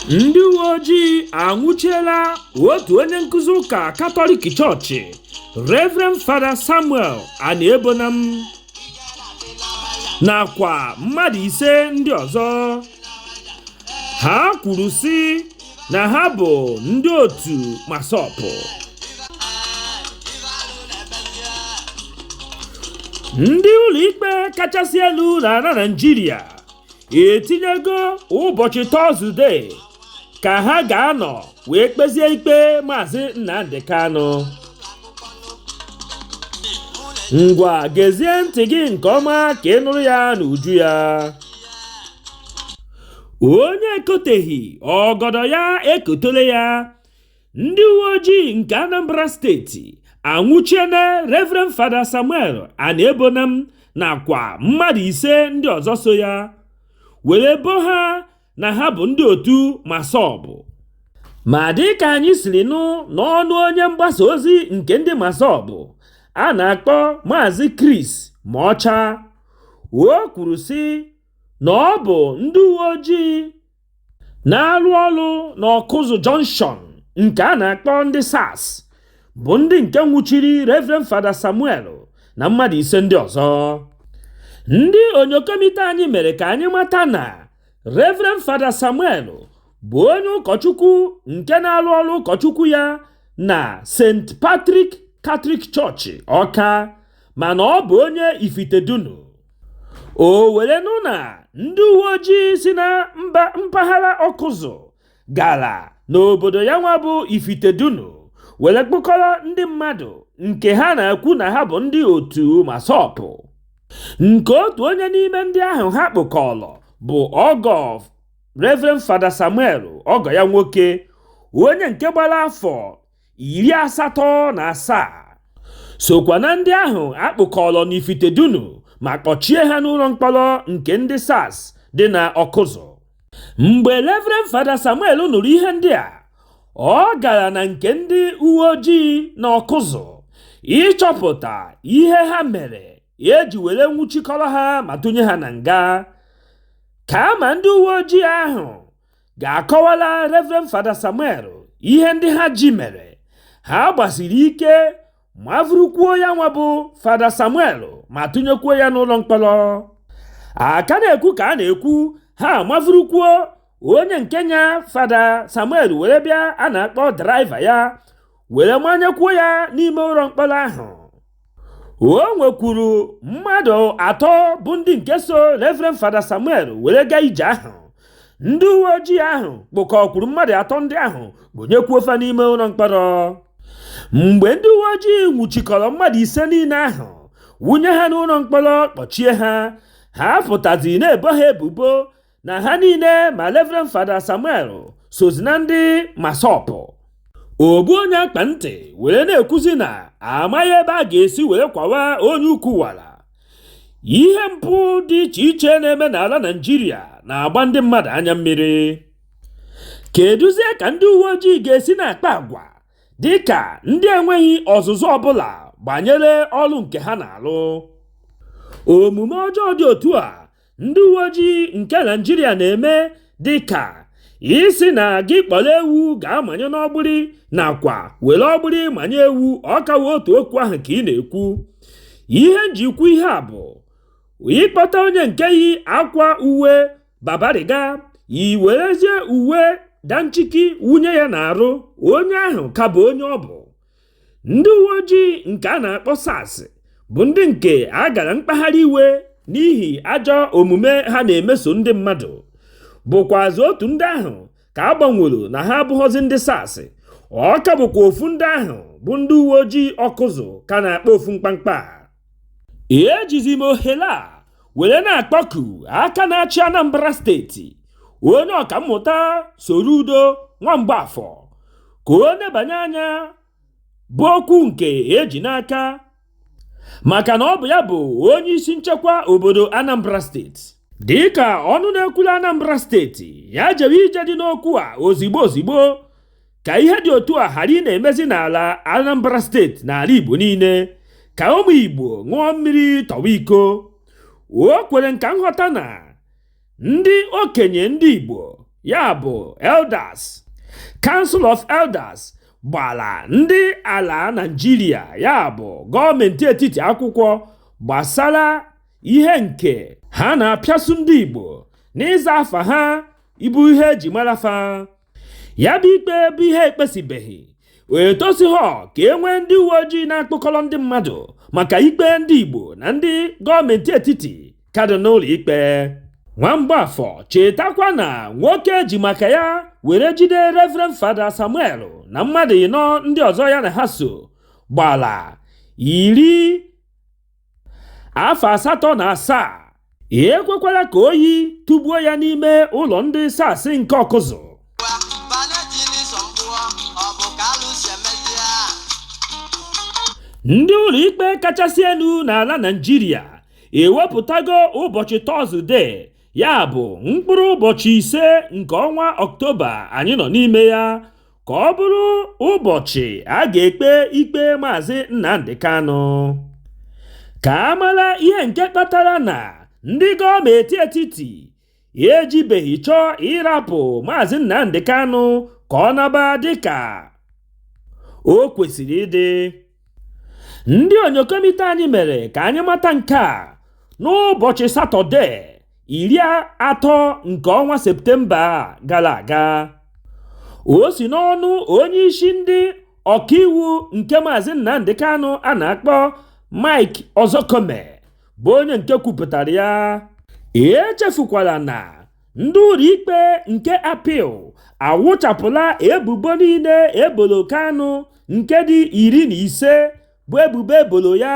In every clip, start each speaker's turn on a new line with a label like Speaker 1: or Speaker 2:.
Speaker 1: ndị uwe ojii anwụchiela otu onye nkụzi ụka katọlik chọọchị reverend fada samuel aniebonam nakwa mmadụ ise ndị ọzọ ha kwuru sị na ha bụ ndị otu massob ndị ụlọikpe kachasị elu na ala naijiria etinyego ụbọchị tọzdee ka ha ga-anọ wee kpezie ikpe maazị nnamdị kanụ ngwa gezie ntị gị nke ọma ka ị nụrụ ya n'uju ya onye ekoteghị ọgọdọ ya ekotole ya ndị uwe ojii nke anambra steeti anwụchiena reverend fada samuel aniebonam nakwa mmadụ ise ndị ọzọ so ya were bo ha na ha bụ ndị otu massob ma dị ka anyị siri nụ n'ọnụ onye mgbasa ozi nke ndị massob a na-akpọ maazị chris mocha o kwuru sị na ọ bụ ndị uwe ojii na-arụ ọrụ n'Ọkụzụ Junction nke a na-akpọ ndị SARS bụ ndị nke nwụchiri Rev. Fada Samuel na mmadụ ise ndị ọzọ. Ndị onyokomite anyị mere ka anyị mata na Rev. Fada Samuel bụ onye ụkọchukwu nke na-arụ ọrụ ụkọchukwu ya na St. Patrick Catholic Church Ọka mana ọ bụ onye Ifitedunu. o were nụ na ndị uwe ojii si na mpaghara ọkụzụ gara n'obodo ya nwa bụ ifitedunu were kpụkọrọ ndị mmadụ nke ha na-ekwu na ha bụ ndị otu MASSOB nke otu onye n'ime ndị ahụ ha kpụkọrọ bụ ọgọ Reverend Fada Samuel ọgọ ya nwoke onye nke gbara afọ iri asatọ na asaa sokwa na ndị ahụ a kpụkọrọ n'ifitedunu ma kpọchie ha n'ụlọ mkpọrọ nke ndị SARS dị na ọkụzụ mgbe Reverend Fada Samuel nụrụ ihe ndị a ọ gara na nke ndị uwe ojii na ọkụzụ ịchọpụta ihe ha mere e ji were nwụchikọrọ ha ma tụnye ha na nga kama ndị uwe ojii ahụ ga-akọwala Reverend Fada Samuel ihe ndị ha ji mere ha gbasiri ike mavurukwuo ya nwa bụ Fada Samuel ma tụnyekwuo ya n'ụlọ mkpọrọ a ka na-ekwu ka a na-ekwu ha mavurukwuo onye nke nya Fada Samuel were bịa a na-akpọ draiva ya were manyekwuo ya n'ime ụlọ mkpọrọ ahụ o nwekwuru mmadụ atọ bụ ndị nke so Reverend Fada Samuel were gaa ije ahụ ndị uwe ojii ahụ kpụkọkwuru mmadụ atọ ndị ahụ wụnyekwuo fa n'ime ụlọ mkpọrọ mgbe ndị uwe ojii nwụchikọrọ mmadụ ise niile ahụ wụnye ha n'ụlọ mkpọrọ kpọchie ha ha pụtazi na-ebo ha ebubo na ha niile ma Reverend Fada Samuel sozi na ndị MASSOB ogbu onye akpa ntị were na-ekwuzi na amaghị ebe a ga-esi were kwawa onye ukwu wara ihe mpụ dị iche iche na-eme n'ala Naịjirịa na-agba ndị mmadụ anya mmiri kedụzie ka ndị uwe ojii ga-esi na-akpa agwa dị ka ndị enweghị ọzụzụ ọbụla gbanyere ọrụ nke ha na-alụ omume ọjọọ dị otu a ndị uwe ojii nke Naịjirịa na-eme dị ka ị sị na gị kpọrọ ewu gaa manye n'ọgbụrị nakwa were ọgbụrị manye ewu ọ ka wụ otu okwu ahụ ka ị na-ekwu ihe m ji kwuo ihe a bụ ị kpọta onye nke yi akwa uwe babariga i werezie uwe danchiki wunye ya n'arụ onye ahụ ka bụ onye ọ bụ ndị uwe ojii nke a na-akpọ SARS bụ ndị nke a gara mkpagharị iwe n'ihi ajọ omume ha na-emeso ndị mmadụ bụkwazị otu ndị ahụ ka a gbanwere na ha abụghọzi ndị SARS ọ ka bụkwa ofu ndị ahụ bụ ndị uwe ojii Ọkụzụ ka na-akpa ofu mkpamkpa ejizi m ohere a were na-akpọku aka na-achị Anambra steeti onye ọkammụta Soludo Nwamgbafọ ka o nebanye anya bụ okwu nke e ji n'aka maka na ọ bụ ya bụ onye isi nchekwa obodo Anambra steeti dịka ọnụ na-ekwuru Anambra steeti ya jewe ije dị n'okwu a ozigbo ozigbo ka ihe dị otu a ghara ịna-emezi n'ala Anambra steeti na ala Igbo niile ka ụmụ Igbo ṅụọ mmiri tọwa iko o kwere nka nghọta na ndị okenye ndị Igbo ya bụ elders Council of Elders gbara ndị ala Naịjirịa ya bụ gọọmenti etiti akwụkwọ gbasara ihe nke ha na-apịasu ndị Igbo n'ịza afa ha ịbụ ihe e ji mara fa ya bụ ikpe bụ ihe e kpesibeghị etosighọ ka e nwee ndị uwe ojii na-akpụkọrọ ndị mmadụ maka ikpe ndị Igbo na ndị gọọmenti etiti ka dị n'ụlọ ikpe Nwamgbafọ chetakwa na nwoke e ji maka ya were jide Reverend Fada Samuel na mmadụ ịnọ ndị ọzọ ya na ha so gbala iri afọ asatọ na asaa ekwekwala ka oyi tụgbuo ya n'ime ụlọ ndị SARS nke ọkụzụ ndị ụlọikpe kachasị elu n'ala naijiria ewepụtago ụbọchị tọzụde ya bụ mkpụrụ ụbọchị ise nke ọnwa ọktoba anyị nọ n'ime ya ka ọ bụrụ ụbọchị a ga-ekpe ikpe Maazị Nnamdi Kanu. Ka a mara ihe nke kpatara na ndị gọọmenti etiti ejibeghị chọọ ịrapụ Maazị Nnamdi Kanu ka ọ naba dịka o kwesịrị ịdị. Ndị onyokomite anyị mere ka anyị mata nke a n'ụbọchị Satọde iri atọ nke ọnwa Septemba gara aga. O si n'ọnụ onye isi ndị ọkaiwu nke Maazị Nnamdi Kanu a na-akpọ Mike Ozekhome bụ onye nke kwupụtara ya. Echefukwala na ndị ụlọikpe nke appeal awụchapụla ebubo niile ebolo Kanu nke dị iri na ise bụ ebubo ebolo ya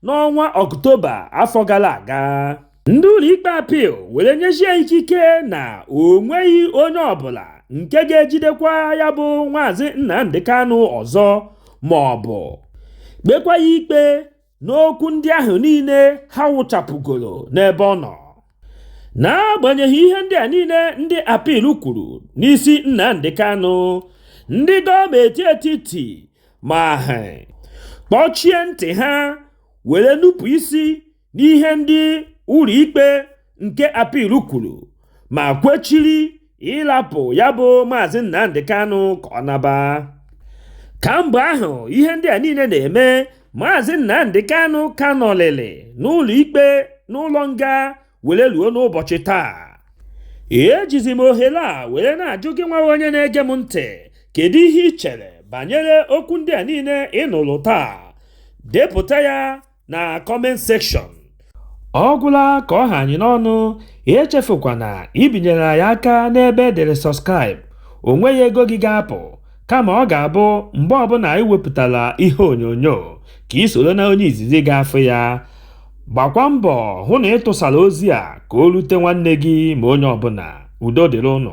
Speaker 1: n'ọnwa ọktoba afọ gara aga ndị ụlọikpe appeal were nyezie ikike na o nweghị onye ọbụla nke ga-ejidekwa ya bụ maazị Nnamdi Kanu ọzọ ma ọ bụ kpekwa ya ikpe n'okwu ndị ahụ niile ha wụchapụgoro n'ebe ọ nọ n'agbanyeghị ihe ndị a niile ndị appeal kwuru n'isi Nnamdi Kanu ndị gọọmenti etiti ma ha kpọchie ntị ha were nupụ isi n'ihe ndị ụlọikpe nke appeal kwuru ma kwechiri ịlapụ ya bụ maazị Nnamdi Kanu ka ọ naba kamgbe ahụ ihe ndị a niile na-eme maazị Nnamdi Kanu ka nọlịlị n'ụlọ ikpe n'ụlọ nga were luo n'ụbọchị taa ejizi m ohere a were na-ajụ gị nwa onye na-ege m ntị kedu ihe ị chere banyere okwu ndị a niile ị nụrụ taa depụta ya na comment section ọ gwụla ka ọ ha anyị n'ọnụ echefukwana ibinyere anyị aka n'ebe e dere subscribe o nweghị ego gị ga-apụ kama ọ ga-abụ mgbe ọbụla anyị wepụtara ihe onyonyo ka i soro na onye izizi ga-afụ ya gbakwa mbọ hụ na ị tụsara ozi a ka o rute nwanne gị ma onye ọbụla udo dịrị unu